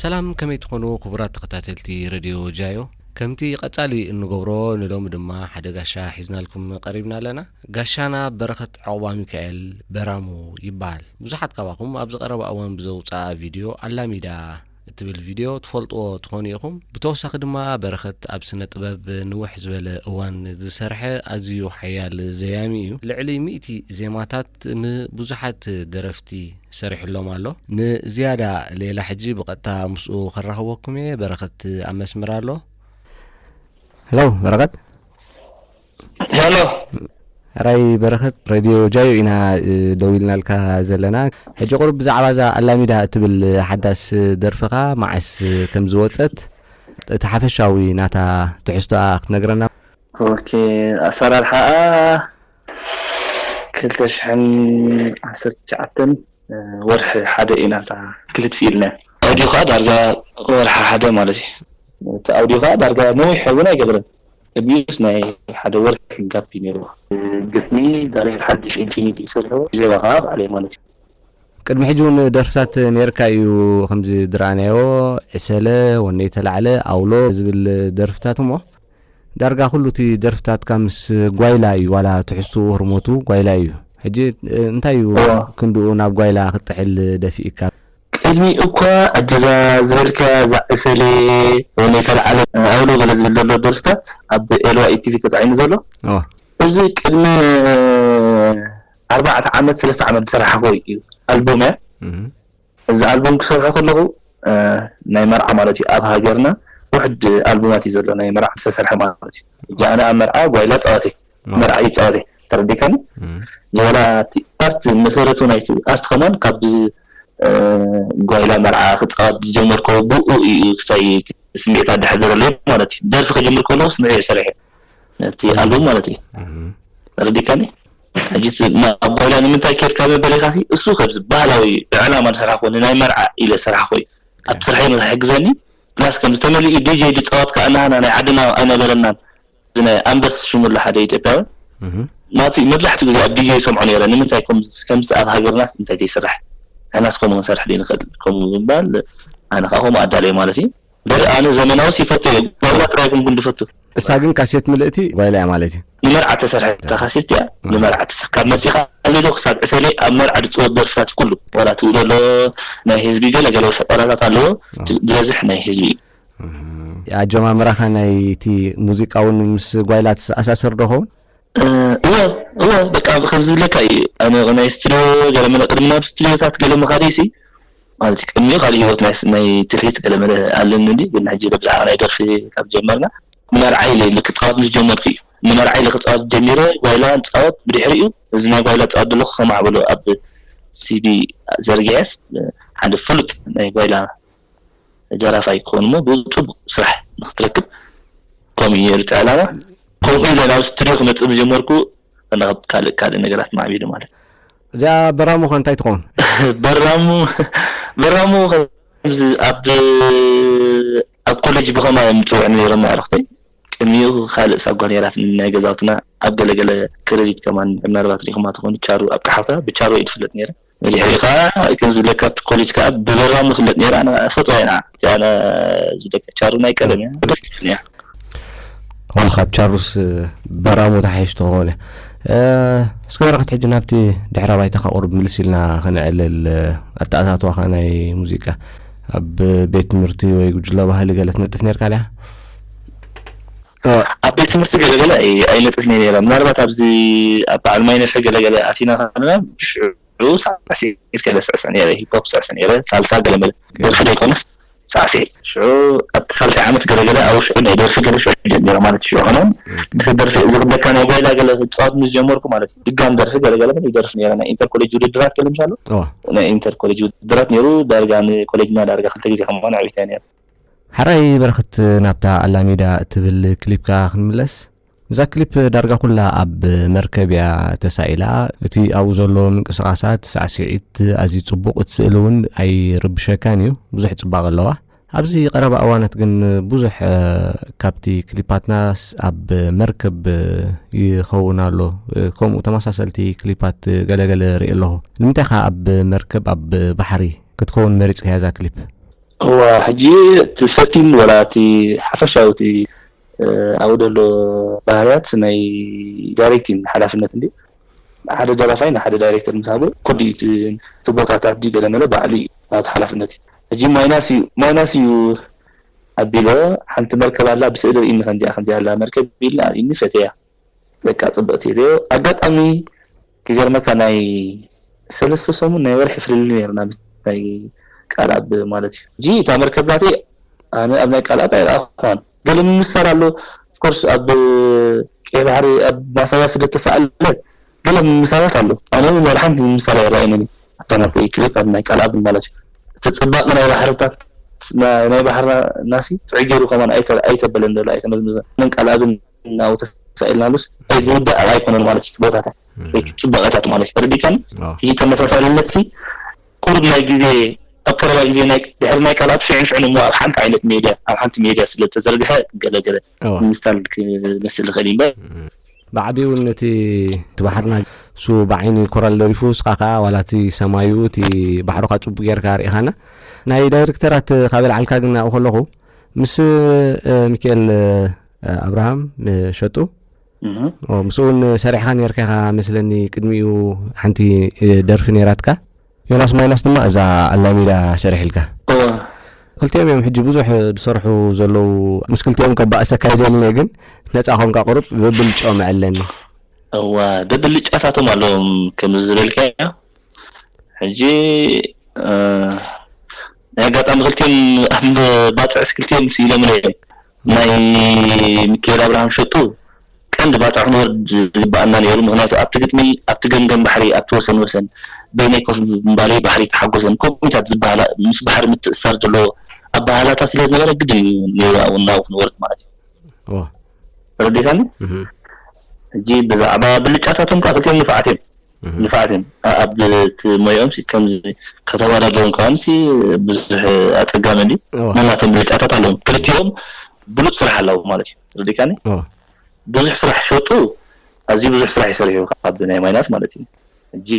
ሰላም ከመይ ትኾኑ ክቡራት ተኸታተልቲ ረድዮ ጃዮ ከምቲ ቐጻሊ እንገብሮ ንሎሚ ድማ ሓደ ጋሻ ሒዝናልኩም ቐሪብና ኣለና ጋሻና በረኸት ዕቑባ ሚካኤል በራሙ ይበሃል ብዙሓት ካባኹም ኣብዚ ቐረባ እዋን ብዘውጽኣ ቪድዮ ኣላሚዳ እትብል ቪድዮ ትፈልጥዎ ትኾኑ ኢኹም። ብተወሳኺ ድማ በረኸት ኣብ ስነ ጥበብ ንውሕ ዝበለ እዋን ዝሰርሐ ኣዝዩ ሓያል ዘያሚ እዩ። ልዕሊ ሚእቲ ዜማታት ንብዙሓት ደረፍቲ ሰሪሑሎም ኣሎ። ንዝያዳ ሌላ ሕጂ ብቐጥታ ምስኡ ከራኽበኩም እየ። በረኸት ኣብ መስመር ኣሎ። ሄሎ በረኸት። ሄሎ ሕራይ በረኸት ረድዮ ጃዮ ኢና ደው ኢልናልካ ዘለና ሕጂ ቁሩብ ብዛዕባ እዛ ኣላሚዳ እትብል ሓዳስ ደርፍኻ መዓስ ከም ዝወፀት እቲ ሓፈሻዊ ናታ ትሕዝቶኣ ክትነግረና ኦኬ ኣሰራርሓኣ ክልተ ሽሕን ዓሰርተ ትሽዓተን ወርሒ ሓደ ኢና እታ ክሊፕ ስኢልናያ ኣውዲዮ ከዓ ዳርጋ ወርሒ ሓደ ማለት እዩ እቲ ኣውዲዮ ከዓ ዳርጋ ነዊሕ እውን ኣይገብርን ኣቢዩስ ናይ ሓደ ወርሒ ጋፕ እዩ ኔርዎ። ግጥሚ ዳንኤል ሓድሽ ኢንፊኒቲ ዝሰርሖ ዜማ ከኣ ባዕለይ ማለት እዩ። ቅድሚ ሕጂ ውን ደርፍታት ኔርካ እዩ ከምዚ ድራናዮ ዕሰለ ወነይ ተላዕለ ኣውሎ ዝብል ደርፍታት እሞ ዳርጋ ኩሉ እቲ ደርፍታትካ ምስ ጓይላ እዩ ዋላ ትሕዝትኡ ህርሞቱ ጓይላ እዩ ሕጂ እንታይ እዩ ክንድኡ ናብ ጓይላ ክትጥሕል ደፊኢካ ቅድሚ እኳ ኣጅዛ ዝበልካያ ዝዓሰለ ወለ ይተልዓለ ኣውሎ ገለ ዝብል ዘሎ ደርፍታት ኣብ ኤልዋኢ ቲቪ ተጻዒኑ ዘሎ እዚ ቅድሚ ኣርባዕተ ዓመት ሰለስተ ዓመት ዝሰራሕክዎ እዩ ኣልቡም እያ እዚ ኣልቡም ክሰርሖ ከለኹ ናይ መርዓ ማለት እዩ ኣብ ሃገርና ውሕድ ኣልቡማት እዩ ዘሎ ናይ መርዓ ዝተሰርሐ ማለት እዩ ጃኣነ ኣብ መርዓ ጓይላ ጸዋተይ መርዓ ይጻወት እየ ተረዲካኒ ዝወላ እቲ ኣርት መሰረቱ ናይቲ ኣርት ከማን ካብ ጓይላ መርዓ ክጻወት ዝጀመር ከ ብኡ እዩ ክሳይ ስምዒት ኣዳሕዘረለይ ማለት እዩ ደርፊ ከጀምር ከለዎስ ንዑ ሰሪሐ ነቲ ኣልበም ማለት እዩ ተረዲካኒ ሕጂ ናብ ጓይላ ንምንታይ ኬድካ ዝበለካሲ እሱ ከብዚ ባህላዊ ብዕላማ ዝሰራሕኮ ንናይ መርዓ ኢለ ዝሰራሕኮ እዩ ኣብ ስርሐይ ንክሕግዘኒ ፕላስ ከም ዝተመልኡ ዲጀይ ድጻወትካ እናሃና ናይ ዓድና ኣይነበረናን እዚ ናይ ኣንበስ ሽሙ ኣሎ ሓደ ኢትዮጵያዊ ናቱ መብዛሕትኡ ግዜ ኣብ ዲጄ ይሰምዖ ነይረ ንምንታይ ከምዚ ከምዚ ኣብ ሃገርናስ እንታይ ዘይስራሕ ንሕናስ ከምኡ ክንሰርሕ ዘይንኽእል ከምኡ ብምባል ኣነ ከኣ ከምኡ ኣዳልየ ማለት እዩ እምበር ኣነ ዘመናዊስ ይፈቱ እየ ጓይላ ጥራይ ኣይኮንኩን ዝፈቱ እሳ ግን ካሴት ምልእቲ ጓይላ እያ ማለት እዩ ንመርዓ ተሰርሐታ ካሴት እያ ንመርዓ ተሰ ካብ መጺኻ ኣልዶ ክሳብ ዕሰለ ኣብ መርዓ ዝጽወት ደርፍታት ኩሉ ዋላ ትብሎ ኣሎ ናይ ህዝቢ ገለ ገለ ፈጠራታት ኣለዎ ዝበዝሕ ናይ ህዝቢ እዩ ኣጀማምራኻ ናይ እቲ ሙዚቃውን ምስ ጓይላ ተኣሳስር ዶ ኸውን? እወ እወ በቃ ከም ዝብለካ እዩ ኣነ ናይ ስቱድዮ ገለ መለ ቅድሚ ናብ ስቱድዮታት ገለ ምኻደይሲ ማለት እዩ ቅድሚ ካልእ ህይወት ናይ ትልሂት ገለ መለ ኣለኒ እንድዩ ግን ሕጂ ብዛዕባ ናይ ደርፊ ካብ ጀመርና ንመርዓይ ኢለ ኢለ ክጻወት ምስ ጀመርኩ እዩ ንመርዓይ ኢለ ክጻወት ጀሚረ ጓይላ ንጻወት ብድሕሪኡ እዚ ናይ ጓይላ ዝጻወት ዘለኹ ከማዕብሎ ኣብ ሲዲ ዘርጊሐስ ሓደ ፍሉጥ ናይ ጓይላ ደራፋይ ክኾኑ እሞ ብጽቡቅ ስራሕ ንክትረክብ ከምኡ እዩ ነይሩ እቲ ዕላማ ከምኡ ኢለ ናብ ስቱድዮ ክመጽእ ምጀመርኩ ናብ ካልእ ካልእ ነገራት ማዕቢሉ ማለት እዩ። እዚኣ በራሙ ከ እንታይ ትኸውን? በራሙ በራሙ ከምዚ ኣብ ኣብ ኮለጅ ብኸማ እዮም ዝጽውዑኒ ነይሮም ኣዕርኽተይ ቅድሚኡ ካልእ ሳጓ ነይራትኒ ናይ ገዛውትና ኣብ ገለገለ ክረዲት ከማን ምናልባት ሪኢኹማ ትኾኑ ቻሩ ኣብቅሓውታ ብቻሩ እየ ዝፍለጥ ነይረ። ድሕሪ ከኣ ከም ዝብለካ ኣብቲ ኮሌጅ ከኣ ብበራም ንፍለጥ ነይራ ንፈልጦ ኢና እቲኣ ዝብለካ ቻሩ ናይ ቀደም እያ ደስ ትብል እያ ካብ ቻሩስ በራሙ ተሓይሽ ተኾነ እስከ በረኸት ሕጂ ናብቲ ድሕረ ባይታኻ ቁርብ ምልስ ኢልና ከነዕልል ኣተኣታትዋኻ ናይ ሙዚቃ ኣብ ቤት ትምህርቲ ወይ ጉጅለ ባህሊ ገለ ትነጥፍ ነርካ ድያ ኣብ ቤት ትምህርቲ ገለ ገለ ኣይነጥፍን'የ ነይረ፣ ምናልባት ኣብዚ ኣብ በዓል ማይነፍሒ ገለ ገለ ኣቲና ከለና ብሽዑ ሳዕሲዒት'የ ዝስዕስዕ ነይረ፣ ሂፖፕ ዝስዕስዕ ነይረ፣ ሳልሳ ገለ መለ ደርፊ ዘይኮነስ ሳዕሲዒት። ሽዑ ኣብቲ ሳልሳይ ዓመት ገለ ገለ ኣብኡ ሽዑ ናይ ደርፊ ገለ ሽዑ ጀሚረ ማለት ሽዑ ከማን ምስ ደርፊ እዚ ክብለካ ናይ ጓይላ ገለ ክጻወት ምስ ጀመርኩ ማለት ድጋም ደርፊ ገለ ገለ መለ ይደርፍ ነይረ ናይ ኢንተር ኮሌጅ ውድድራት ገለ ምሽ ኣሎ ናይ ኢንተር ኮሌጅ ውድድራት ነይሩ ዳርጋ ንኮሌጅና ዳርጋ ክልተ ግዜ ከማን ኣዕዊታያ ነይረ ሐራይ በረኸት ናብታ ኣላሜዳ እትብል ክሊፕካ ክንምለስ እዛ ክሊፕ ዳርጋ ኩላ ኣብ መርከብ እያ ተሳኢላ እቲ ኣብኡ ዘሎ ምንቅስቓሳት ሳዕስዒት ኣዝዩ ጽቡቕ እቲ ስእሊ እውን ኣይርብሸካን እዩ ብዙሕ ጽባቐ ኣለዋ ኣብዚ ቀረባ እዋናት ግን ብዙሕ ካብቲ ክሊፓትና ኣብ መርከብ ይኸውን ኣሎ ከምኡ ተመሳሰልቲ ክሊፓት ገለገለ ርኢ ኣለኹ ንምንታይ ከ ኣብ መርከብ ኣብ ባሕሪ ክትከውን መሪጽካያ እዛ ክሊፕ እዋ ሕጂ እቲ ሰቲን ወላ እቲ ሓፈሻዊ እቲ ኣብኡ ዘሎ ባህርያት ናይ ዳይሬክቲን ሓላፍነት እንድዩ ሓደ ደራፋይ ንሓደ ዳይሬክተር ምስ ሃቦ ኩሉ እዩ እቲ እቲ ቦታታት ድዩ ገለ መለ ባዕሉ እዩ ናቱ ሓላፍነት እዩ ሕጂ ማይናስ እዩ ማይናስ እዩ ኣቢለ ሓንቲ መርከብ ኣላ ብስእሊ ርኢኒ ከምዚኣ ከምዚኣ ኣላ መርከብ ኢልና ኣርእዩኒ ፈቴያ በቃ ጽብቅቲ ብ ኣጋጣሚ ክገርመካ ናይ ሰለስተ ሰሙን ናይ ወርሒ ፍልልይ ነይሩና ምስ ናይ ቃልኣብ ማለት እዩ ሕጂ እታ መርከብ ናተይ ኣነ ኣብ ናይ ቃልኣብ ኣይረኣኹዋን ገለ ምምስሳል ኣሎ ኦፍኮርስ ኣብ ቀይ ባሕሪ ኣብ ማሳያ ስደት ተሳኣለት ገለ ምምሳላት ኣሎ ኣነ ውን ዋላ ሓንቲ ምምሳል ኣይረኣየንን እዩ እታ ናተይ ክሊፕ ኣብ ናይ ቃልኣብ ማለት እዩ እቲ ጽባቀ ናይ ባሕርታት ናይ ባሕርናሲ ጥዑይ ጌሩ ከማን ኣይተበለን ዶሎ ኣይተመዝመዘን መን ቃልኣብን ኣብኡ ተሳኢልናሉስ እንታይ ዝውዳእ ኣይኮነን ማለት እዩ እቲ ቦታታት ወይ ጽባቀታት ማለት እዩ ተረዲካኒ እዚ ተመሳሳልነትሲ ቁሩብ ናይ ግዜ ኣብ ቀረባ ግዜ ናይ ድሕሪ ናይ ቃልኣብ ሽዑን ሽዑን እሞ ኣብ ሓንቲ ዓይነት ሜድያ ኣብ ሓንቲ ሜድያ ስለ ተዘርግሐ ገለ ገለ ንምሳል ክመስል ዝኽእል ኢለ። ብዓቢኡ ውን እቲ ባሕርና እሱ ብዓይኒ ኮራል ደሪፉ እስኻ ከኣ ዋላ እቲ ሰማዩ እቲ ባሕሩ ከኣ ጽቡቅ ጌርካ ኣርኢኻና። ናይ ዳይርክተራት ካብ የልዓልካ ግን ኣብኡ ከለኹ ምስ ሚኪኤል ኣብርሃም ሸጡ ምስኡ ውን ሰሪሕኻ ኔርካ ኢኻ መስለኒ ቅድሚኡ ሓንቲ ደርፊ ኔራትካ። ዮናስ ማይናስ ድማ እዛ ኣላሚዳ ሰሪሒልካ። እወ ክልቲኦም እዮም ሕጂ ብዙሕ ዝሰርሑ ዘለዉ ምስ ክልቲኦም ከባእሰካ ይደልኒ ግን ነጻ ኮንካ ቁሩብ ብብልጭኦም ዕለኒ። እወ ብብልጫታቶም ኣለዎም ከምዚ ዝበልካዮ ሕጂ ናይ ኣጋጣሚ ክልቲኦም ኣብ ባጽዕስ ክልቲኦም ኢሎምለይ እዮም። ናይ ሚኪኤል ኣብርሃም ሸቶ ቀንዲ ባጽዕ ክንወርድ ዝግበኣና ኔሩ ምኽንያቱ ኣብቲ ግጥሚ ኣብቲ ገምገም ባሕሪ ኣብቲ ወሰን ወሰን በይነይ ኮፍ ምባለይ ባሕሪ ተሓጎሰን ኮሚታት ዝበሃላ ምስ ባሕሪ ምትእስሳር ዘለዎ ኣበሃህላታት ስለ ዝነበረ ግድን እዩ ኔሩ ኣብኡ ናብኡ ክንወርድ ማለት እዩ ተረዲእካኒ ሕጂ ብዛዕባ ብልጫታቶም ከኣ ክልቲኦም ንፉዓት እዮም ንፋዓት እዮም ኣብ ሞያኦም ከምዚ ከተዋዳድሮም ከኣ ብዙሕ ኣጸጋሚ እንድዩ ነናቶም ብልጫታት ኣለዎም ክልቲኦም ብሉጽ ስራሕ ኣለዎም ማለት እዩ ረዲካኒ ብዙሕ ስራሕ ሸጡ ኣዝዩ ብዙሕ ስራሕ ይሰርሑ ካብ ናይ ማይናስ ማለት እዩ ሕጂ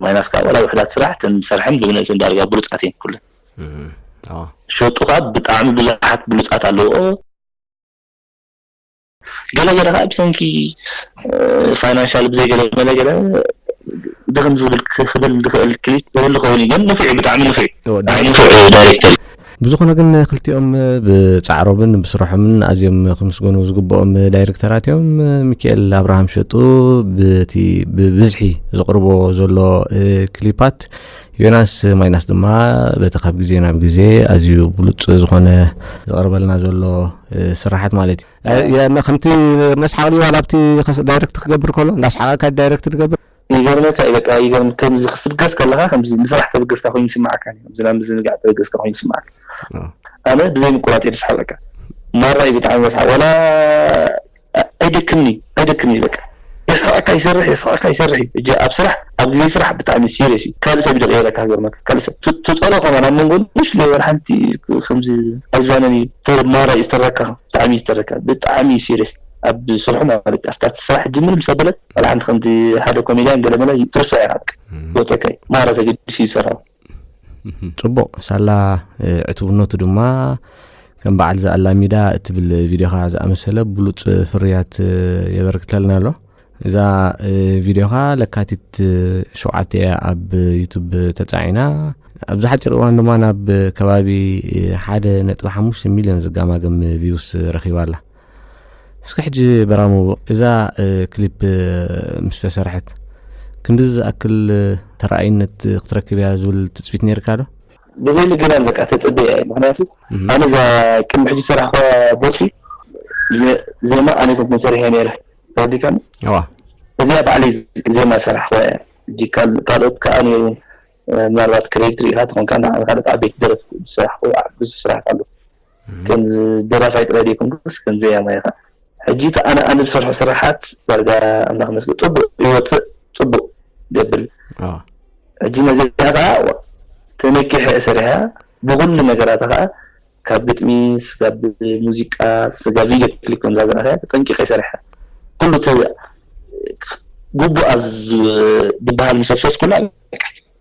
ማይናስ ከዓ ዋላ ውሕዳት ስራሕ እተን ዝሰርሐን ብብነትን ዳርጋ ብሉጻት እየን ኩለን ሸጡ ከዓ ብጣዕሚ ብዙሓት ብሉጻት ኣለዎ ገለ ገለ ከኣ ብሰንኪ ፋይናንሻል ብዘይ ገለ መለ ገለ ድኽም ዝብል ክብል ዝኽእል ክሊፕ ዝህሉ ኮይኑ ግን ንፍዕ ብጣዕሚ ንፍዕ ንፍዕ ዳይሬክተር ብዝኾነ ግን ክልቲኦም ብጻዕሮምን ብስርሖምን ኣዝዮም ክምስገኑ ዝግብኦም ዳይሬክተራት እዮም ሚካኤል ኣብርሃም ሸጡ ብቲ ብብዝሒ ዝቕርቦ ዘሎ ክሊፓት ዮናስ ማይናስ ድማ በቲ ካብ ግዜ ናብ ግዜ ኣዝዩ ብሉጽ ዝኾነ ዝቐርበልና ዘሎ ስራሓት ማለት እዩ ከምቲ መስሓቕ ድዩ ኣብቲ ዳይረክት ክገብር ከሎ እንዳስሓቐካ ዳይረክት ትገብር ይገርመካ እዩ በቃ ይገርም ከምዚ ክትብገስ ከለኻ ከምዚ ንስራሕ ተበገስካ ኮይኑ ይስምዓካ ከምዚ ናብ ምዝንጋዕ ተበገስካ ኮይኑ ይስምዓካ ኣነ ብዘይ ምቁራጥ እየ ዝስሓቀካ ማራ እዩ ብጣዕሚ መስሓቕ ዋላ ኣይደክምን'ዩ ኣይደክምን'ዩ በቃ የስሕቐካ ይሰርሕ የስሕቐካ ይሰርሕ'ዩ ሕጂ ኣብ ስራሕ ኣብ ግዜ ስራሕ ብጣዕሚ ሲርየስ'ዩ ካልእ ሰብ'ዩ ዝቕየረካ ክገርመካ ካልእ ሰብ ትጸልኦ ከማን ኣብ መንጎ ንእሽተይ ወላ ሓንቲ ከምዚ ኣይዛነን'ዩ ማራ'ዩ ዝተረካ ብጣዕሚ'ዩ ዝተረካ ብጣዕሚ ሲርየስ ኣብ ስርሑ ማለት ኣብታ ስራሕ ሕጂ ምንም ሰብ በለት ወላ ሓንቲ ከምዚ ሓደ ኮሜድያን ገለ መለ ትርስዖ ኢኻ በቃ ወጸካ'ዩ ማራ ተገዲሱ ይሰርሖ ጽቡቕ ሳላ ዕቱብነቱ ድማ ከም በዓል ዝኣላሚዳ እትብል ቪድዮኻ ዝኣመሰለ ብሉጽ ፍርያት የበርክተልና ኣሎ እዛ ቪድዮኻ ለካቲት ሸውዓተ እያ ኣብ ዩቱብ ተጻዒና ኣብዚ ሓፂር እዋን ድማ ናብ ከባቢ ሓደ ነጥቢ ሓሙሽተ ሚልዮን ዝጋማገም ቪውስ ረኺባ ኣላ እስከ ሕጂ በራሙ እዛ ክሊፕ ምስ ተሰርሐት ክንዲ ዝኣክል ተረኣይነት ክትረክብ እያ ዝብል ትፅቢት ነይርካ ዶ? ብዘይ ምግናን በቃ ተጸብየ እየ ምክንያቱ ኣነ እዛ ቅድሚ ሕጂ ሰራሕኳ ቦቲ ዜማ ኣነ ኮንኩ ሰሪሐ ነይረ ተረዲካኒ እዚኣ ባዕለይ ዜማ ሰራሕኳ እያ ሕጂ ካልኦት ከዓ ነይሩ ምናልባት ክሬዲት ርኢካ ትኾንካ ካልኦት ዓበይቲ ደረፍቲ ዝሰራሕኩ ብዙሕ ስራሕት ኣሎ ከምዚ ደራፋይ ጥራይ ደይኮንኩስ ከም ዘያማይ ከኣ ሕጂ እቲ ኣነ ኣነ ዝሰርሖ ስርሓት ዳርጋ ኣምላኽ ይመስገን ጽቡቕ ይወጽእ ጽቡቕ ገብል ሕጂ ነዚኣ ከኣ ተነኪሐ ሰሪሓ ብኹሉ ነገራታ ከኣ ካብ ግጥሚ ስጋብ ሙዚቃ ስጋ ቪድዮ ክሊፕ ከምዛ ዘርኣኸያ ተጠንቂቐ ሰሪሓ ኩሉ ግቡኣ ዝበሃል ምስ ኣፍሰስኩላ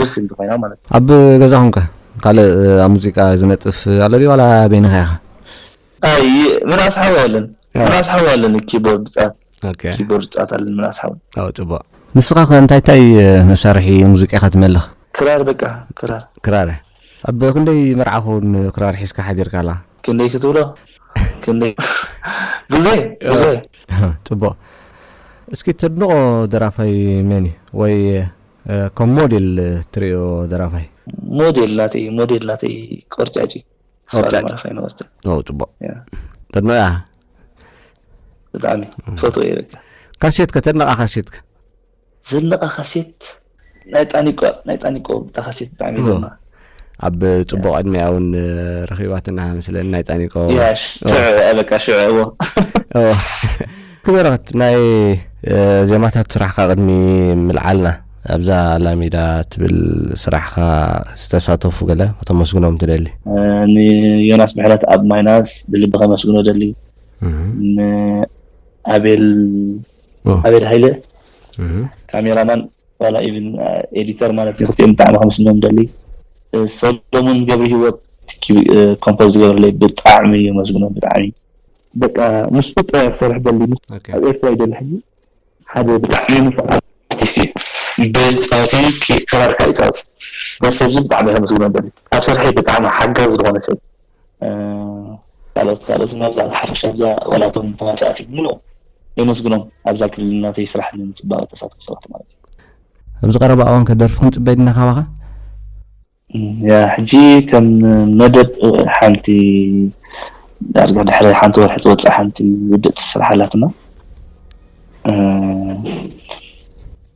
ደስ ኢልቲ ኮይና ማለት እዩ። ኣብ ገዛኹም ከ ካልእ ኣብ ሙዚቃ ዝነጥፍ ኣሎ ድዩ ዋላ በይንኻ ኢኻ? ኣይ ምናስ ሓው ኣለን ምናስ ሓው ኣለን ኪቦርድ ዝጻወት ኦኬ ኪቦርድ ዝጻወት ኣለን ምናስ ሓው ኦ ጽቡቕ ንስኻ ከ እንታይ እንታይ መሳርሒ ሙዚቃ ኢኻ ትመልኽ? ክራር በቃ ክራር ክራር ኣብ ክንደይ መርዓ ክውን ክራር ሒዝካ ሓዲርካ ኣላ? ክንደይ ክትብሎ ክንደይ ብዙይ ብዙይ ጽቡቕ እስኪ ተድንቖ ደራፋይ መን እዩ ወይ ከም ሞዴል ትሪኦ ደራፋይ። ሞዴል ናተይ ሞዴል ናተይ ቆርጫጭ እዩ። ቆርጫጭ ፋይን ወርጫ ኦ ጽቡቅ ተድንቆ ኢኻ ብጣዕሚ ፈቶ እየ በቃ ካሴት ከ ተድንቃ ካሴት ከ ዘንቃ ካሴት ናይ ጣኒቆ ናይ ጣኒቆ ብታ ካሴት ብጣዕሚ እየ ዘንቃ ኣብ ፅቡቅ ዕድሜያ እውን ረኪባትና መስለኒ ናይ ጣኒቆ በቃ ሽዑ እዎ ክበረክት ናይ ዜማታት ስራሕካ ቅድሚ ምልዓልና ኣብዛ ላሚዳ ትብል ስራሕካ ዝተሳተፉ ገለ ከተመስግኖም ትደሊ ንዮናስ ምሕረት ኣብ ማይናስ ብልቢ ከመስግኖ ደሊ ንኣቤል ኣቤል ሃይለ ካሜራማን ዋላ ኢቭን ኤዲተር ማለት እዩ ክልቲኦም ብጣዕሚ ከምስልሞም ደሊ ሰሎሙን ገብሪ ህይወት ኮምፖዝ ዝገበረለይ ብጣዕሚ እዩ መስግኖ ብጣዕሚ በቃ ምስኡ ጥራይ ክሰርሕ ደሊ ኣብ ኤርትራ እዩ ደሊ ሕጂ ሓደ ብጣዕሚ ንፉዕ ኣርቲስት እዩ ቤዝ ፃወቲ ክራር ከዓ ይፃወት ነዚ ሰብዚ ብጣዕሚ ከመስግኖ ደሊ ኣብ ስርሐይ ብጣዕሚ ሓጋዚ ዝኾነ ሰብ ቃሎት ቃሎት እናብዛሕ ብሓፈሻ ኣብዛ ዋላ እቶም ተዋሳእቲ ብምልኦም የመስግኖም ኣብዛ ክልል ናተይ ስራሕ ንምጽባቅ እተሳተፉ ሰባት ማለት እዩ። ኣብዚ ቀረባ እዋን ከ ደርፊ ክንጽበ ዲና ካባኻ? ያ ሕጂ ከም መደብ ሓንቲ ዳርጋ ድሕሪ ሓንቲ ወርሒ ትወጽእ ሓንቲ ውድእቲ ስራሕ ኣላትና።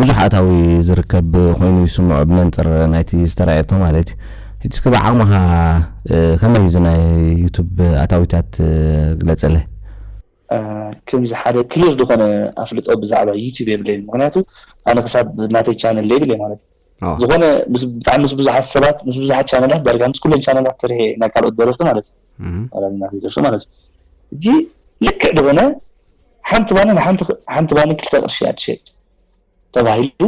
ብዙሕ ኣታዊ ዝርከብ ኮይኑ ይስምዖ ብመንጽር ናይቲ ዝተራእየቶ ማለት እዩ። ሕጂ እስከ ብዓቕምኻ ከመይ እዩ እዚ ናይ ዩቱብ ኣታዊታት ግለጸለይ። ክምዚ ሓደ ክሊር ድኮነ ኣፍልጦ ብዛዕባ ዩቱብ የብለይን ምክንያቱ ኣነ ክሳብ ናተይ ቻነል ደይብለይ ማለት እዩ። ዝኾነ ብጣዕሚ ምስ ብዙሓት ሰባት ምስ ብዙሓት ቻነላት ዳርጋ ምስ ኩለን ቻነላት ስርሐ ናይ ካልኦት ደረፍቲ ማለት እዩ ደርፊ ማለት እዩ እጂ ልክዕ ዝኾነ ሓንቲ ባኒ ሓንቲ ባኒ ክልተ ቅርሺ እያ ትሸጥ ተባሂሉ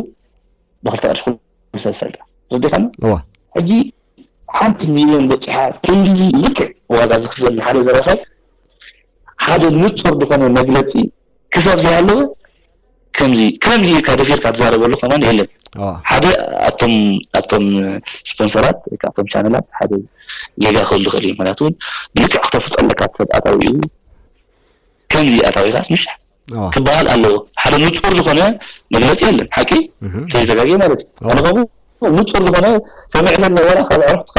ብክልተ ቅርሺ ኩሉ ሰብ ዝፈልጣ ረዲኻኒ ሕጂ ሓንቲ ሚልዮን በፂሓ ክንድዚ ልክዕ ዋጋ ዝኽፈል ሓደ ደራፋይ ሓደ ንፁር ዝኾነ መግለፂ ክሳብ ዘይሃለወ ከምዚ ከምዚ ኢልካ ደፊርካ ትዛረበሉ ከማን የለን ሓደ ኣብቶም ኣብቶም ስፖንሰራት ወይ ከዓ ኣብቶም ቻነላት ሓደ ጌጋ ክህሉ ይኽእል እዩ ምክንያቱ እውን ብልክዕ ክተፍልጦ ኣለካ እቲ ሰብ ኣታዊ እዩ ከምዚ ኣታዊ ከዓስ ምሽ ክበሃል ኣለዎ ሓደ ንፁር ዝኾነ መግለፂ የለን ሓቂ ተዘይተጋጊ ማለት እዩ ኣነ ከምኡ ንፁር ዝኾነ ሰሚዕለኒ ወላ ካብ ዕረፍትካ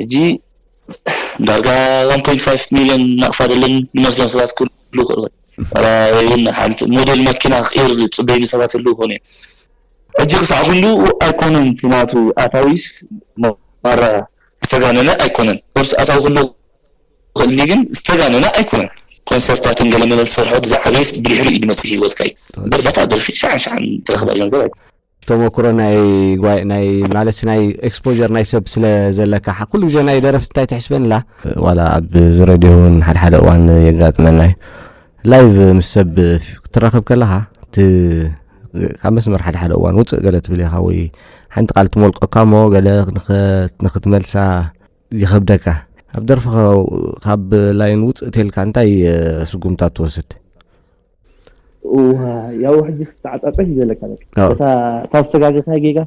ሕጂ ዳርጋ ዋን ፖይንት ፋይፍ ሚልዮን ናቕፋ ደለን ንመስለን ሰባት ክህልዉ ይኽእሉ እዮም። ወይውን ሓንቲ ሞዴል መኪና ክቕይር ዝጽበዩኒ ሰባት ይህልዉ ይኾኑ እዮም። ሕጂ ክሳዕ ክንድኡ ኣይኮነን እቲ ናቱ ኣታዊስ ማራ ዝተጋነነ ኣይኮነን። ኦፍኮርስ ኣታዊ ክህልዎ ይኽእል እንድዩ ግን ዝተጋነነ ኣይኮነን። ኮንሰርታትን ገለ መለ ዝሰርሖ እቲ ዝዓበየስ ብድሕሪኡ ድመጽእ ህይወትካ እዩ እምበር በታ ደርፊ ሻዕን ሻዕን ትረኽባ ነገር ኣይኮነን። ተሞክሮ ናይ ጓይ ናይ ማለት ናይ ኤክስፖዠር ናይ ሰብ ስለ ዘለካ ሓ- ኩሉ ግዜ ናይ ደረፍቲ እንታይ ትሕስበን እላ ዋላ ኣብ ዝረድዮ እውን ሓደ ሓደ እዋን የጋጥመና እዩ ላይቭ ምስ ሰብ ፍ- ክትራኸብ ከለኻ እቲ ካብ መስመር ሓደ ሓደ እዋን ውፅእ ገለ ትብል ኢኻ ወይ ሓንቲ ቃል ትሞልቀካ እሞ ገለ ንኸ- ንክትመልሳ ይኸብደካ ኣብ ደርፍኻ ካብ ላይን ውፅእ ተልካ እንታይ እ፣ ስጉምታት ትወስድ ያው ሕጂ ክትተዓጻጸፍ እዩ ዘለካ በቃ እታ እታ ዝተጋገኻያ ጌጋ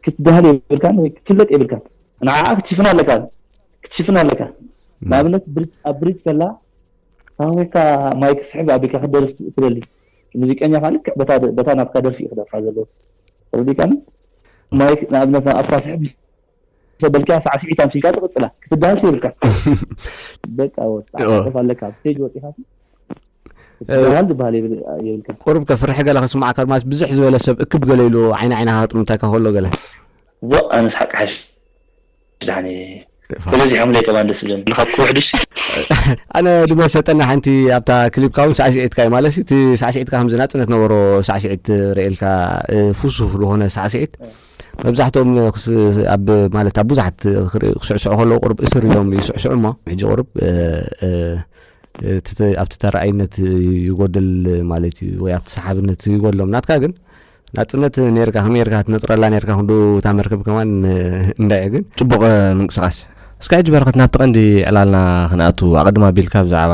ክትደሃል የብልካን ወይ ክትፍለጥ የብልካን ንዓኣ ክትሽፍና ኣለካ ክትሽፍና ኣለካ ንኣብነት ኣብ ብሪጅ ከላ ታወካ ማይ ክስሕብ ኣቢልካ ክትደርፍ ትደሊ ሙዚቀኛ ካን ልክዕ በታ ናትካ ደርፊ እዩ ክደርፋ ዘለዎ ተረዲካኒ ማይ ንኣብነት ኣብታ ስሕብ ተበልካ ሳዕሲዒት ኣምሲልካ ትቕጽላ ክትበሃል ዘይብልካ በቃ ወጣ ዓጠፍ ኣለካ ኣብ ስቴጅ ወጢኻ ክትበሃል ዝበሃል የብልካ ቁሩብ ከፍርሒ ገለ ክስማዕካ ማስ ብዙሕ ዝበለ ሰብ እክብ ገለ ኢሉ ዓይኒ ዓይንኻ ክጥምተካ ከሎ ገለ ዋ ኣነ ስሓቅ ሓሽ ድሓኒ ተበዚሖምለይ ከማን ደስ ብለኒ ካብ ክውሕዱስ ኣነ ድመሰጠና ሓንቲ ኣብታ ክሊፕካ እውን ሳዕስዒትካ እዩ ማለት እቲ ሳዕስዒትካ ከምዚ ናፅነት ነበሮ ሳዕስዒት ርእልካ ፍሱህ ዝኾነ ሳዕስዒት መብዛሕትኦም ክስ ኣብ ማለት ኣብ ብዙሓት ክርኢ ክስዕስዑ ከለዉ ቁሩብ እስር እዮም ይስዕስዑ እሞ ሕጂ ቁሩብ ኣብቲ ተራኣይነት ይጎድል ማለት እዩ ወይ ኣብቲ ሰሓብነት ይጎድሎም ናትካ ግን ናጽነት ነርካ ከመይ ርካ ትነጥረላ ነርካ ክንዱ እታ መርከብ ከማን እንዳይ ግን ጽቡቕ ምንቅስቓስ እስካ ሕጂ በረኸት ናብቲ ቀንዲ ዕላልና ክንኣቱ ኣቐድም ኣቢልካ ብዛዕባ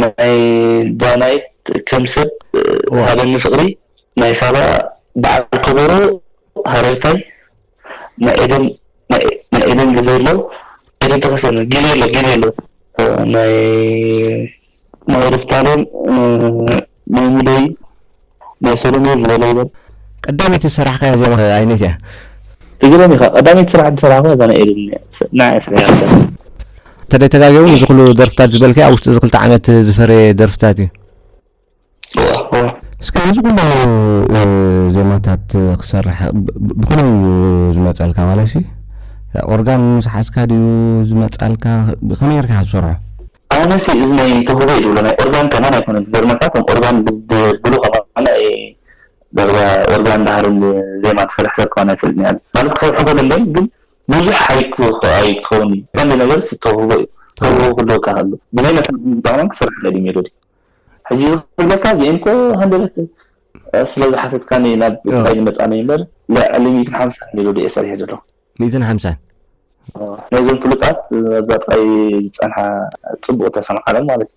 ናይ ዳናይት ከም ሰብ ሃበኒ ፍቅሪ ናይ ሳባ በዓል ኮቦሮ ሃረርታይ ናይ ኤደን ናይ ኤደን ግዜ ኣሎ ኤደን ተከስተን ግዜ ኣሎ ግዜ ኣሎ ናይ ናይ ሩፍታለም ናይ ሙሉይ ናይ ሰሎሙየ ዝበሎ ይበል። ቀዳመይቲ ዝሰራሕካያ ዜማ ከ ኣይነይቲ እያ? ትግርም ኢካ ቀዳመይቲ ስራሕ ዝሰራሕኩዋ እዛ ናይ ኤልል ንዓይ ኣስሪሓያ እያ። እንተደይ ተጋጌኩም እዚ ኩሉ ደርፍታት ዝበልካዮ ኣብ ውሽጢ እዚ ክልተ ዓመት ዝፈረየ ደርፍታት እዩ። እስከ ነዚ ኩሉ ዜማታት ክሰርሕ ብከመይ እዩ ዝመጸልካ ማለትሲ ኦርጋን ምስ ሓዝካ ድዩ ዝመጻልካ ብከመይ ገርካ ኢካ ትሰርሖ? ኣነሲ እዚ ናይ ተውህቦ እዩ ዝብሎ ናይ ኦርጋን ከማን ኣይኮነን ዝገርመካ እቶም ኦርጋን ድብሉ ከማን ኣይ ዳርጋ ኦርጋን ድሃርን ዜማ ትሰርሕ ሰብ ከማን ኣይፈልጥን እየ ኣነ ማለት ክሰርሑ ከደለዮም ግን ብዙሕ ኣይክኸውን እዩ ቀንዲ ነገር ሲ ተውህቦ እዩ ተውህቦ ክህልወካ ከሎ ብዘይ መሳርሒ ሙዚቃ ከማን ክትሰርሕ ትኽእል እዩ ሜሎዲ ሕጂ እዚ ክብለካ እዚኤን እኮ ሃንደበት ስለ ዝሓተትካኒ ናብ ጥራይ ንመጻኒ እምበር ልዕሊ ሚእትን ሓምሳን ሜሎዲ እየ ሰሪሐ ዘለኹ ሚእትን ሓምሳን። ናይዞም ፍሉጣት ኣብዛ ጥራይ ዝጸንሓ ጽቡቅ ተሰምዓሎም ማለት እዩ።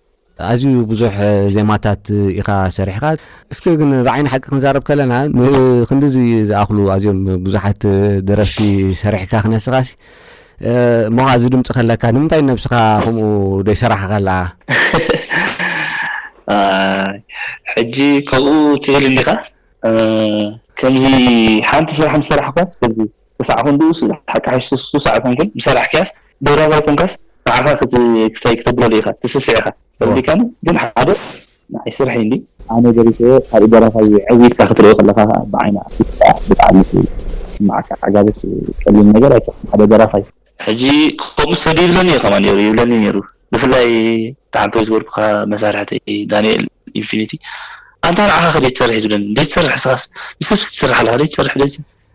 ኣዝዩ ብዙሕ ዜማታት ኢኻ ሰሪሕኻ። እስከ ግን ብዓይኒ ሓቂ ክንዛረብ ከለና ንኽንድዚ ዝኣኽሉ ኣዝዮም ብዙሓት ደረፍቲ ሰሪሕካ ክነስኻሲ እሞ ኸኣ እዚ ድምጺ ከለካ ንምንታይ ንነብስኻ ከምኡ ደይሰራሕኻላ? ኣይ ሕጂ ከምኡ ትብል እንዲኻ? ከምዚ ሓንቲ ስራሕ ምስ ሰራሕኳስ ከምዚ ክሳዕ ክንድኡ ሓቂ ሓሽ ሱሳዕ ኣይኮንኩን ዝሰራሕክያስ ደራሲ ኣይኮንካስ ንዓኻ ክት ክስታይ ክተብለሉ ኢኻ ትስስዕ ኢኻ ከምዚ ከም ግን ሓደ ንዓይ ስርሐይ እንድዩ ኣነ ደሪሰዮ ካልእ ደራፋይ ዕብ ኢልካ ክትሪኦ ከለኻ ከኣ ብዓይኒ ኣፍሊጥካ ብጣዕሚ ክስምዓካ ዓጋበት ቀሊል ነገር ኣይኮነን ሓደ ደራፋይ። ሕጂ ከምኡ ሰዱ ይብለኒ እዩ ከማን ነይሩ ይብለኒ ነይሩ ብፍላይ ተሓንተ ዝበልኩካ መሳርሕተይ ዳንኤል ኢንፊኒቲ ኣንታ ንዓኻ ከደይ ትሰርሕ ይብለኒ ደይ ትሰርሕ ስኻስ ንሰብሲ ትሰርሕ ኣለኻ ደይ ትሰርሕ ደይ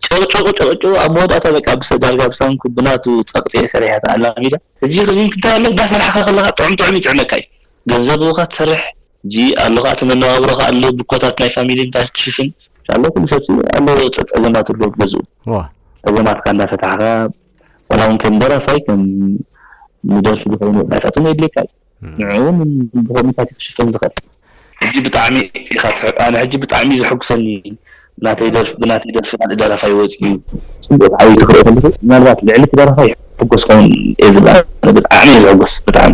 ጨቕጨቑ ጨቕጨቑ ኣብ መወዳእታ በቃ ብሰ ዳርጋ ብሰንኩ ብናቱ ጸቕጢ ሰሪሐት ኣላሚዳ ሕጂ ክንክንታይ ኣሎ እንዳሰርሕካ ከለኻ ጥዑም ጥዑም ይጥዕመካ እዩ ገንዘብ እውኻ ትሰርሕ ሕጂ ኣሎ ከኣ እቲ መነባብሮ ከኣ ኣሎ ብኮታት ናይ ፋሚሊ እንታይ ክትሽፍን። ኣሎ ኩሉ ሰብሲ ኣሎ ጸጸገማት ኣሎ ኣብ ገዝኡ ጸገማትካ እንዳ ፈታሕካ ዋላ ውን ከም ደራፋይ ከም ንደርፊ ዝከውን ወጻኢታት ውን የድልየካ ዩ ንዕኡ ውን ብኮሚታት ዩ ክሽፈን ዝክእል። ሕጂ ብጣዕሚ ኢካ ትሕቅ ኣነ ሕጂ ብጣዕሚ ዩ ዘሕጉሰኒ ብናተይ ደርፊ ብናተይ ደርፊ ካልእ ደራፋይ ወጺኡ። ጽቡቅ ተዓዊቱ ክርኢ ከለኩ ምናልባት ልዕሊ እቲ ደራፋይ ይሕጎስ ክከውን እየ ዝብል ኣነ ብጣዕሚ እየ ዝሕጎስ ብጣዕሚ።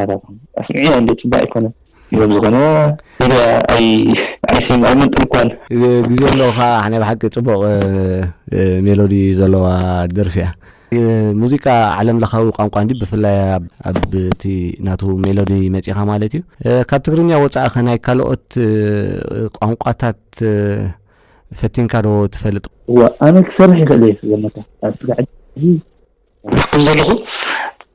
ኣታትኩም ኣስምዕዮ እንድየ ጽቡቅ ኣይኮነን። እየ ብዝኮነ ሚድያ ኣይስም ኣይመልጥን እኳ ኣነ። ግዜ ኣለውካ ኣሕ ናይ ብሓቂ ጽቡቅ ሜሎዲ ዘለዋ ደርፊ እያ። ሙዚቃ ዓለም ለኻዊ ቋንቋ እንድዩ ብፍላይ ኣብ እቲ ናቱ ሜሎዲ መጺኻ ማለት እዩ። ካብ ትግርኛ ወጻኢ ከ ናይ ካልኦት ቋንቋታት ፈቲንካ ዶ ትፈልጥ? እወ ኣነ ክሰርሕ ይኽእል እየ ስለምንታይ ኣብቲ ላዕሊ ከምዘለኹ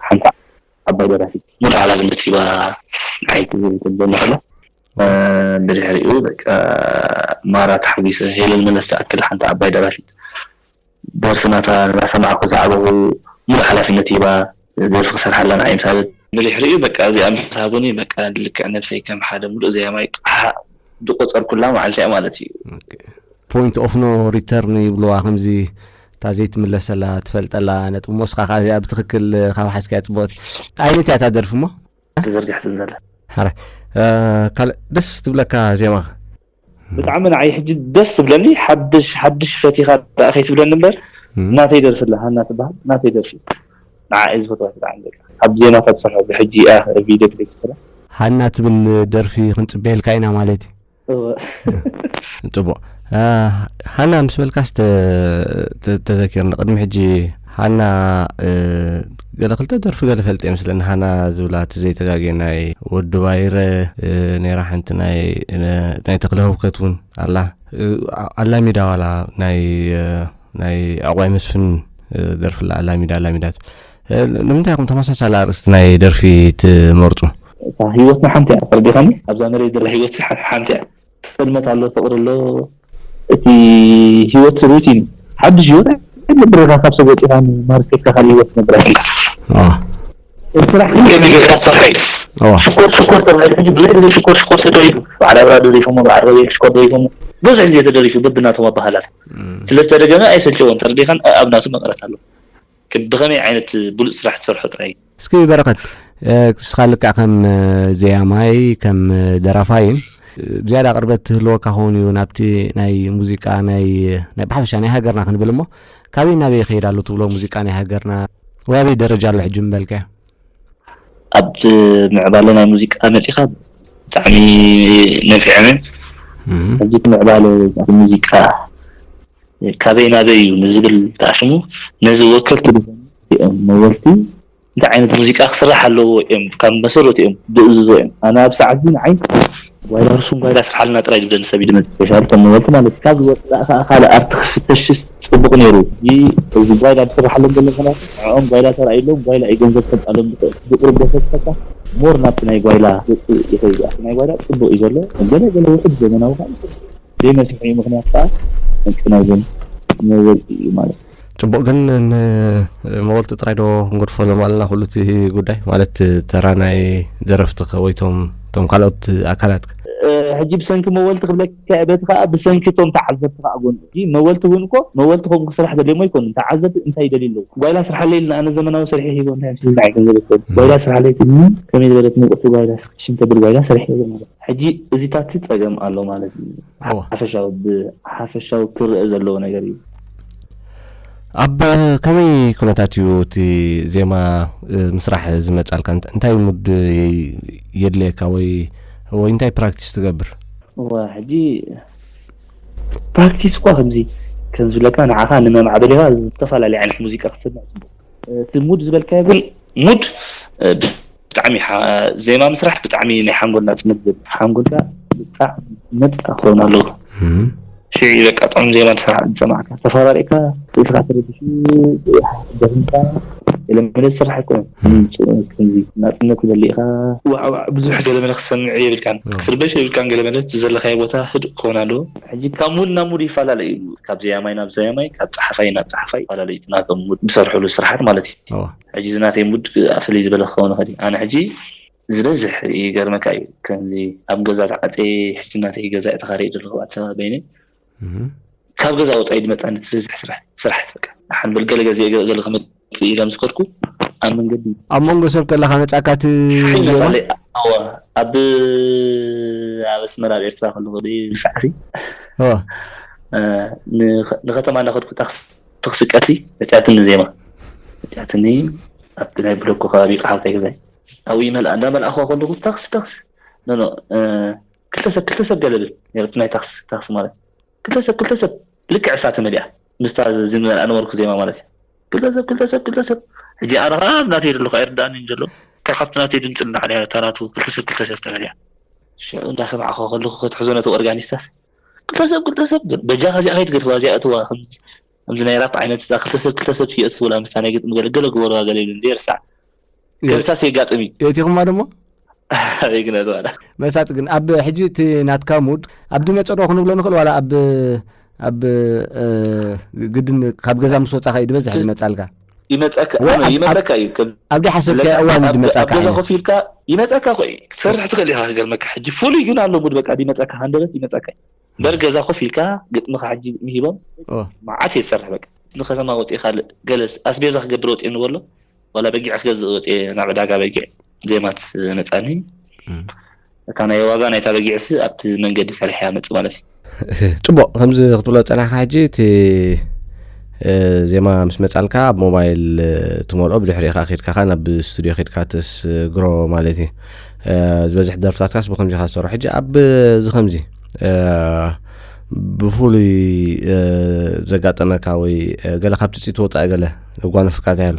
ሓንቲ ዓባይ ደራፊት። ሙሉእ ሓላፍነት ሂባ ንዓይ ክብል ከብደኒ ከሎ። ብድሕሪኡ በቃ ማራ ተሓጒሰ። ሄለን መለስ ትኣክል ሓንቲ ዓባይ ደራፊት። ደርፊ ናታ እናሰማዕኩ ዝዓበኹ። ሙሉእ ሓላፍነት ሂባ ደርፊ ክሰርሓላ ንዓይ ምስ ሃበት። ብድሕሪኡ በቃ እዚኣ ምስ ሃቡኒ በቃ ልክዕ ነብሰይ ከም ሓደ ሙሉእ ዘያማይ ዝቖጸርኩላ መዓልቲ'ያ ማለት'ዩ። ፖይንት ኦፍ ኖ ሪተርን ይብሉዋ ከምዚ። እታ ዘይትምለሰላ ትፈልጠላ ነጥቢ እሞ እስኻ ከኣ እዚኣ ብትኽክል ካብ ሓዝካያ ጽቡቕቲ ዓይነት እያ እታ ደርፊ እሞ ተዘርግሕትን ዘላ ሓራይ ካልእ ደስ ትብለካ ዜማ ከ ብጣዕሚ ንዓይ ሕጂ ደስ ትብለኒ ሓድሽ ሓድሽ ፈቲኻ ደኣ ከይትብለኒ እምበር ናተይ ደርፊ ኣላ ሃና ትበሃል ናተይ ደርፊ ንዓ እየ ዝፈትዋ ብጣዕሚ በቃ ኣብ ዜማታት ዝሰርሖ ብሕጂ እያ ቪድዮ ክሊፕ ዝሰርሕ ሃና ትብል ደርፊ ክንጽበየልካ ኢና ማለት እዩ ጽቡቅ ሃና ምስ በልካስ ተዘኪርኒ ቅድሚ ሕጂ ሃና ገለ ክልተ ደርፊ ገለ ፈልጥ እየ ምስለኒ ሃና ዝብላ እቲ ዘይተጋግየ ናይ ወዲ ባይረ ነራ ሓንቲ ናይ ተክለ ህውከት እውን ኣላ ኣላሚዳ ዋላ ናይ ናይ ዕቋይ መስፍን ደርፊ ኣላ ኣላሚዳ ኣላሚዳ ንምንታይ ኢኹም ተመሳሳሊ ኣርእስቲ ናይ ደርፊ ትመርጹ? እታ ሂወትና ሓንቲ እያ ተረዲኻኒ ኣብዛ መሬት ዘላ ሂወት ሓንቲ እያ ጥልመት ኣሎ ፍቅሪ ኣሎ እቲ ሂወት ሩቲን ሓድሽ ሂወት ኣይትነብርን ኢኻ ካብ ሰብ ወጺኻ ማርሴካ ካልእ ሂወት ትነብር ኣይትህሉን ስራሕ ግን ከመይ ጌርካ ትሰርሖ እዩ ሽኮር ሽኮር ተባሂሉ ሕጂ ብዘይ ግዜ ሽኮር ሽኮር ተደሪፉ በዓል ኣብርሃ ደሪፎሞ በዓል ሮቤል ሽኮር ደሪፎሞ ብዙሕ ግዜ ተደሪፉ በብናቶም ኣበሃህላታት ስለ ዝተደገመ ኣይሰልቸዎን ተረዲኻን ኣብ ናቱ መቀረት ኣለዎ ብኸመይ ዓይነት ብሉጽ ስራሕ ትሰርሖ ጥራይ እዩ። እስኪ በረኸት ንስኻ ልክዕ ከም ዘያማይ ከም ደራፋይን ብዝያዳ ቅርበት ትህልወካ ክውን እዩ ናብቲ ናይ ሙዚቃ ናይ ብሓፈሻ ናይ ሃገርና ክንብል እሞ ካበይ ናበይ ይኸይድ ኣሎ ትብሎ ሙዚቃ ናይ ሃገርና ወይ ኣበይ ደረጃ ኣሎ ሕጂ ምበልካዮ? ኣብ ምዕባለ ናይ ሙዚቃ መጺኻ ብጣዕሚ ነፊዐነ ኣብዚ ምዕባለ ሙዚቃ ካበይ ናበይ እዩ ንዝብል ከዓ ሽሙ ነዚ ወከልቲ እዮም መወልቲ እንታይ ዓይነት ሙዚቃ ክስራሕ ኣለዎ እዮም ካብ መሰረቱ እዮም ዝእዝዞ እዮም ኣነ ኣብ ሰዓት እዚ ንዓይ ጓይላ ርሱን ጓይላ ስርሓልና ጥራይ ዝደሊ ሰብ እዩ ድመጽ ስፔሻል ከም ነበርቲ ማለት እዩ ካብዚ ወጻኢ ከኣ ካልእ ኣርት ክፍተሽስ ጽቡቅ ኔሩ እዚ ጓይላ ዝስርሓሎም ዘሎ ምክንያቱ ንዕኦም ጓይላ ተራእዩሎም ጓይላ እዩ ገንዘብ ከምጻሎም ዝክእል እቲ ዝቅርብ ደርሰ ዝፈታ ሞር ናብቲ ናይ ጓይላ ገጹ ይከይድ እዩ ኣቲ ናይ ጓይላ ጽቡቅ እዩ ዘሎ ገለ ገለ ውሑድ ዘመናዊ ከኣ ይስርሑ። ዘይመስርሑ እዩ ምክንያቱ ከኣ ቅንቅናይ ግን ነበርቲ እዩ ማለት። ፅቡቅ ግን ንመወልቲ ጥራይ ዶ ክንገድፎ ሎም ኣለና ኩሉ እቲ ጉዳይ ማለት ተራ ናይ ደረፍቲ ወይቶም ቶም ካልኦት ኣካላት ሕጂ ብሰንኪ መወልቲ ክብለካ እየ በቲ ከዓ ብሰንኪ እቶም ተዓዘብቲ ከዓ ጎንፂ መወልቲ እውን እኮ መወልቲ ከምኡ ክስራሕ ደልዮም ኣይኮኑን ተዓዘብቲ እንታይ ይደልዩ ኣለው ጓይላ ስርሓለይ ኢልና ኣነ ዘመናዊ ስርሒ ሂቦ እንታይ ምስልካ እየ ገንዘብ ዝደሊ ጓይላ ስርሓለይ ትብልኒ ከመይ ዝበለት ምቅርቲ ጓይላ ስክትሽን ተብል ጓይላ ሰሪሐ እየ ማለት ሕጂ እዚታትሲ ፀገም ኣሎ ማለት እዩ ዓወ። ሓፈሻዊ ብሓፈሻዊ ክረኣ ዘለዎ ነገር እዩ። ኣብ ከመይ ኩነታት እዩ እቲ ዜማ ምስራሕ ዝመጻልካ? እንታይ ሙድ የድልየካ ወይ ወይ እንታይ ፕራክቲስ ትገብር? እወ ሕጂ ፕራክቲስ እኳ ከምዚ ከም ዝብለካ ንዓኻ ንመማዕበሊኻ ዝተፈላለየ ዓይነት ሙዚቃ ክትሰምዕ ጽቡቕ እቲ ሙድ ዝበልካዮ ግን ሙድ ብጣዕሚ ዜማ ምስራሕ ብጣዕሚ ናይ ሓንጎል ናጽነት ዝህብ ሓንጎልካ ብጣዕሚ ነጻ ክኸውን ኣለዎ ሽዑ እዩ በቃ ጥዑም ዜማ ዝሰራሕ ዝሰማዕካ ተፈራሪቕካ ርእስኻ ተረቢሹ ደኺምካ ገለመለ ዝስራሕ ኣይኮነን ከምዚ ናጽነት ይደሊ ኢኻ ዋዕዋዕ ብዙሕ ገለመለ ክትሰምዕ የብልካን ክትርበሽ የብልካን ገለመለ ዘለኻዮ ቦታ ህዱእ ክኸውን ኣለዎ ሕጂ ካብ ሙድ ናብ ሙድ ይፈላለ እዩ ካብ ዘያማይ ናብ ዘያማይ ካብ ጸሓፋይ ናብ ጸሓፋይ ይፈላለ እዩ ናቶም ዝሰርሕሉ ስራሓት ማለት እዩ ሕጂ እዚ ናተይ ሙድ ክኣ ፍልይ ዝበለ ክከውን ይክእል እዩ ኣነ ሕጂ ዝበዝሕ ይገርመካ እዩ ከምዚ ኣብ ገዛ ተዓጽየ ሕጂ ናተይ ገዛ እየ ተካሪየ ዘለኩ ኣታ በይነይ ካብ ገዛ ወጻኢ ድመጻኒ ዝበዝሕ ስራሕ ስራሕ በቃ ንሓን በል ገለ ገዜ ገለ ክመጽእ እዩ ኢለ ምስ ከድኩ ኣብ መንገዲ ኣብ መንጎ ሰብ ከለካ መጻካ ሹሒን ትብሎ መጻለይ ኣዎ ኣብ ኣብ ኣስመራ ኣብ ኤርትራ ከለኩ ድዩ ዝሰዓሲ ንከተማ እንዳከድኩ ታክሲ ትክስቀሲ መፅያትኒ ዜማ መፅያትኒ ኣብቲ ናይ ብሎኮ ከባቢ ይቃሓልከይ ገዛይ ኣብይ ይመልኣ እንዳመልኣክዋ ከለኩ ታክሲ ታክሲ ኖኖ ክልተ ሰብ ክልተ ሰብ ገለ ብል ነይረቲ ናይ ታክሲ ታክሲ ማለት ክልተ ሰብ ክልተ ሰብ ልክዕ እሳ ተመሊኣ ምስታ ዝመልኣ ነበርኩ ዜማ ማለት እዩ ክልተ ሰብ ክልተ ሰብ ክልተ ሰብ ሕጂ ኣነ ከዓ ኣብ ናተይ ዘለኩ ኣይርድኣንን ዘሎ ካብ ካብቲ ናተይ ድምፂ ንላዕሊ እታ ናቱ ክልተ ሰብ ክልተ ሰብ ተመሊኣ ሽዑ እንዳሰማዕክዋ ከለኩ ክትሕዞ ነቲ ኦርጋኒስታስ ክልተ ሰብ ክልተ ሰብ ግን በጃኻ እዚኣ ከይትገድፍዋ እዚኣ እትዋ ከምዚ ከምዚ ናይ ራፕ ዓይነት እታ ክልተ ሰብ ክልተ ሰብ ከየእትፍውላ ምስታ ናይ ግጥሚ ገለ ገለ ግበርዋ ገለ ይብሉ እንድየ ርሳዕ ከምሳስ የጋጥም እዩ የእቲኹማ ደሞ ኣበይ ግነት ዋላ መሳጢ ግን ኣብ ሕጂ እቲ ናትካ ሙድ ኣብ ድመ ጸዶ ክንብሎ ንኽእል ዋላ ኣብ ኣብ እ፣ ግድን ካብ ገዛ ምስ ወጻኻ እዩ ዝበዝሕ ዝመጻልካ ይመጸካ እዋይ፣ ኣብ- ይመጸካ እዩ ከም ኣብ ደይ ሓሰብካዮ ዝብለካ፣ እዋን እዩ ኣብ ገ- ኣብ ዝመጻካ ገዛ ዓይነት። ኮፍ ኢልካ ይመጸካ እኮ እዩ ክትሰርሕ ትኽእል ኢኻ ክገርመካ ሕጂ ፍሉይ ግን ኣሎ ሙድ በቃ ይመጸካ ሃንደበት ይመጸካ እዩ እምበር ገዛ ኮፍ ኢልካ ግጥምኻ ሕጂ ምሂቦም ኦ፣ መዓስ እየ ዝሰርሕ በቃ ንከተማ ወፂእ ካልእ ገለስ ኣስቤዛ ክገብር ወፂእ ንበሎ ዋላ በጊዕ ክገዝእ ወፂእ ናብ ዕዳጋ በጊዕ ዜማት መጻኒ እታ ናይ ዋጋ ናይታ በጊዕሲ ኣብቲ መንገዲ ሰሪሐ መፅ ማለት እዩ ፅቡቅ ከምዚ ክትብሎ ፀናሕካ ሕጂ እቲ ዜማ ምስ መፃልካ ኣብ ሞባይል ትመልኦ ብድሕሪ ኢኻ ከድካኻ ናብ ስቱድዮ ከድካ ተስግሮ ማለት እዩ ዝበዝሕ ደርፍታትካስ ብከምዚ ኢኻ ዝሰርሑ ሕጂ ኣብ እዚ ከምዚ ብፍሉይ ዘጋጠመካ ወይ ገለ ካብቲ ፅት ወፃኢ ገለ ዘጓነፍካ እንታይ ኣሎ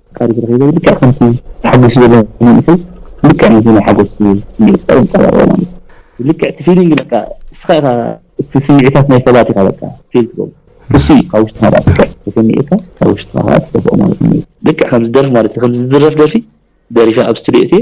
ፈጣሪ ብሩክ ይበል ልክዕ ከምቲ ተሓጉሱ ዘሎ መንእሰይ ልክዕ ነዚ ናይ ሓጎስ ስሚዒት ካኣ የንጻባርቆ ማለት እዩ ልክዕ እቲ ፊሊንግ በቃ እስካ ኢካ እቲ ስሚዒታት ናይ ሰባት ኢካ በቃ ፊል ትገብሮ እሱ እዩ ካብ ውሽጥካ ካኣ ልክዕ ተሰሚዒካ ካብ ውሽጥካ ካኣ ትደፍኦ ማለት እዩ ልክዕ ከምዚ ደርፊ ማለት እዩ ከምዚ ዝድረፍ ደርፊ ደሪፈ ኣብ ስትድዮ እትየ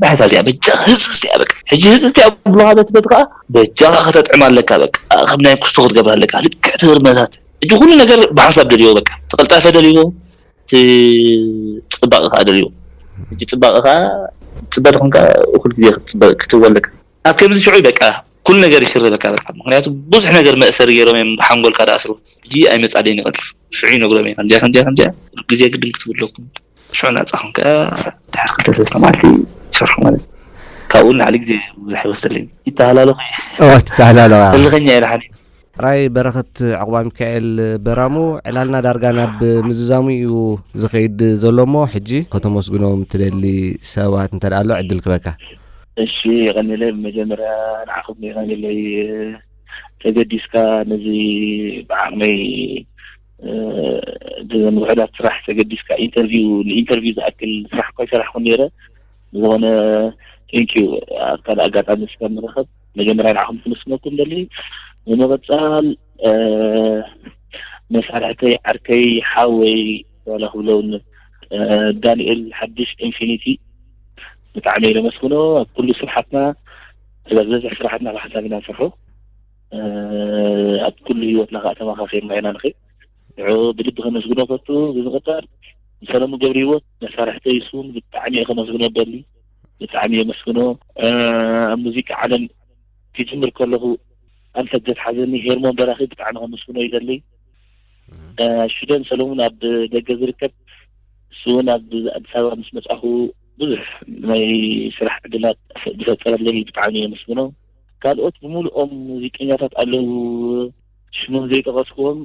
ባሕታ እዚኣ በጃኻ ህጽጽቲ እያ በቃ ሕጂ ህጽጽቲ እያ ብሉኻ ነቲ በቲ ከኣ በጃኻ ከተጥዕማ ኣለካ በቃ ከም ናይ ኩስቶ ክትገብራ ኣለካ ልክዕ እቲ ህርመታት ሕጂ ኩሉ ነገር ብሓንሳብ ደልዮ በቃ እቲ ቅልጣፈ ደልዮ እቲ ጽባቐ ከኣ ደልዮ ሕጂ ጽባቐ ከኣ ጽበ ተኾንካ እኹል ግዜ ክትጽበ ክትህወ ኣለካ ኣብ ከምዚ ሽዑ በቃ ኩሉ ነገር ይስረበካ በቃ ምኽንያቱ ብዙሕ ነገር መእሰሪ ገይሮም እዮም ሓንጎልካ ዝኣስሩ ሕጂ ኣይመጻለይን ይቐልጥፍ ሽዑ ይነግሮም እየ ከምዚኣ ከምዚኣ ከምዚኣ ኩሉ ግዜ ግድም ክትብሉ ኣለኩም ብሹዕ ናጻ ኮንካ ድሕሪ ክልተ ሰለስተ መዓልቲ ትሰርሖ ማለት እዩ። ካብኡ ንላዕሊ ግዜ ብዙሕ ኣይወስደለይን። ይተሃላለኹ እየ። ኦህ ትተሃላለኽ ኢኻ። ህልኸኛ እየ ደሓን እየ። ራኢ በረኸት ዑቕባሚካኤል በራሙ ዕላልና ዳርጋ ናብ ምዝዛሙ እዩ ዝኸይድ ዘሎ እሞ ሕጂ ከተመስግኖም ትደሊ ሰባት እንተ ኣሎ ዕድል ክህበካ። እሺ የቐኔለይ ብመጀመርያ ንዓኹም የቐኔለይ ተገዲስካ ነዚ ብዓቕመይ እዘን ውሑዳት ስራሕ ተገዲስካ ኢንተርቪው ንኢንተርቪው ዝኣክል ስራሕ እኳ ይሰራሕኩ ነይረ ዝኾነ ቴንክ ዩ ኣብ ካልእ ኣጋጣሚ ስጋ ንረኸብ መጀመርያ ንዓኹም ክምስነኩም ደሊ ንመቐፃል መሳርሕተይ ዓርከይ ሓወይ ዋላ ክብለውን ዳንኤል ሓድሽ ኢንፊኒቲ ብጣዕሚ ነመስግኖ ኣብ ኩሉ ስራሓትና ዝበዝሕ ስራሓትና ብሓሳብ ኢና ንሰርሖ ኣብ ኩሉ ህይወትና ከዓ ተመካኪርና ኢና ንኸይድ ንዕኡ ብልቢ ከመስግኖ ፈቱ ብምቕጣል ንሰለሙ ገብሪ ህይወት መሳርሕተ ይስውን ብጣዕሚ እየ ከመስግኖ ደሊ ብጣዕሚ የመስግኖ ኣብ ሙዚቃ ዓለም ክጅምር ከለኹ ኣንፈት ዘትሓዘኒ ሄርሞን በራኺ ብጣዕሚ ከመስግኖ ይደሊ ሽደን ሰለሙን ኣብ ደገ ዝርከብ ንስውን ኣብ ኣዲስ ኣበባ ምስ መፅኣኹ ብዙሕ ናይ ስራሕ ዕድላት ዝፈጠረለይ ብጣዕሚ የመስግኖ ካልኦት ብምሉኦም ሙዚቀኛታት ኣለዉ ሽሞም ዘይጠቀስክዎም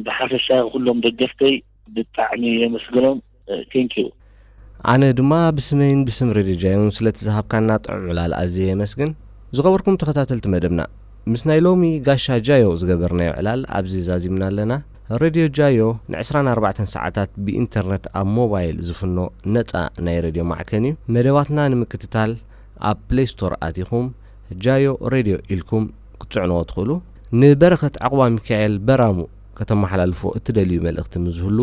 ብሓፈሻ ኩሎም ደገፍተይ ብጣዕሚ የመስግኖም Thank you። ኣነ ድማ ብስመይን ብስም ሬድዮ ጃይሮን ስለቲ ዝሃብካና ጥዑም ዕላል ኣዝየ የመስግን። ዝኸበርኩም ተኸታተልቲ መደብና፣ ምስ ናይ ሎሚ ጋሻ ጃዮ ዝገበርናዮ ዕላል ኣብዚ ዛዚምና ኣለና። ሬድዮ ጃዮ ንዕስራን ኣርባዕተን ሰዓታት ብኢንተርነት ኣብ ሞባይል ዝፍኖ ነጻ ናይ ሬድዮ ማዕከን'ዩ። መደባትና ንምክትታል ኣብ ፕለይ ስቶር ኣቲኹም ጃዮ ሬድዮ ኢልኩም ክትጽዕንዎ ትኽእሉ። ንበረኸት ዓቝባሚካኤል በራሙ ከተመሓላልፍዎ እትደልዩ መልእኽቲ ምስ ዝህሉ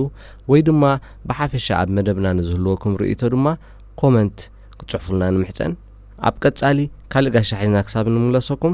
ወይ ድማ ብሓፈሻ ኣብ መደብና ንዝህልወኩም ርእይቶ ድማ ኮመንት ክትጽሕፉልና ንምሕጸን። ኣብ ቀጻሊ ካልእ ጋሻ ሒዝና ክሳብ እንምለሰኩም